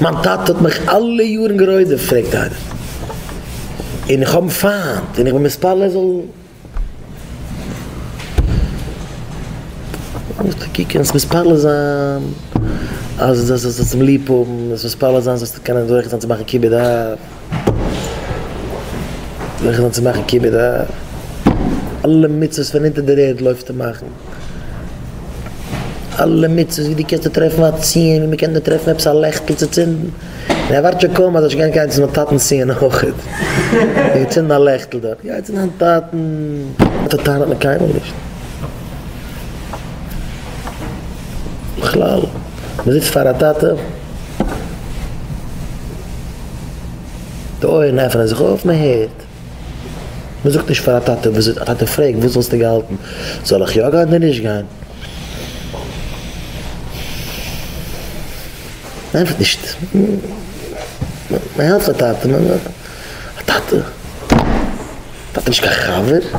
מיין טאטע האט מיך אלע יארן גערוידעפט פרעגט איינער און איך האב אים פיינט און איך בין מתפלל ער זאל מתפלל זיין אז זאלסט אים ליב האבן מתפלל זיין זאלסטו קענען זוכה זיין צו מאכן כיבוד אב. זיכער זיין צו מאכן כיבוד אב, אלע מצוות פון אונטער דער ערד לויפטער מאכן, אלע מצוות ווי דו קענסט נאר טרעפן א ציון ווי מ'קען נאר טרעפן עפעס א לעכטל צו צינדן, און ער ווארט שוין קוים אז ער זאל שוין גיין צו זיין טאטנ'ס ציון אויך, און צינדן א לעכטל דארט, גיי צו דיין טאטן, אזא טענה האט מען קיינמאל נישט, בכלל, מ'זיצט פאר א טאטע. די אויערן עפענען זיך אויף, מען הערט. מען זאגט נישט פאר א טאטע וואס א טאטע פרעגט וואס וואלסטו געהאלטן, זאל איך יא גיין אדער נישט גיין? מען ענטפערט נישט. מען העלפט א טאטע. א טאטע? א טאטע איז נישט קיין חבר?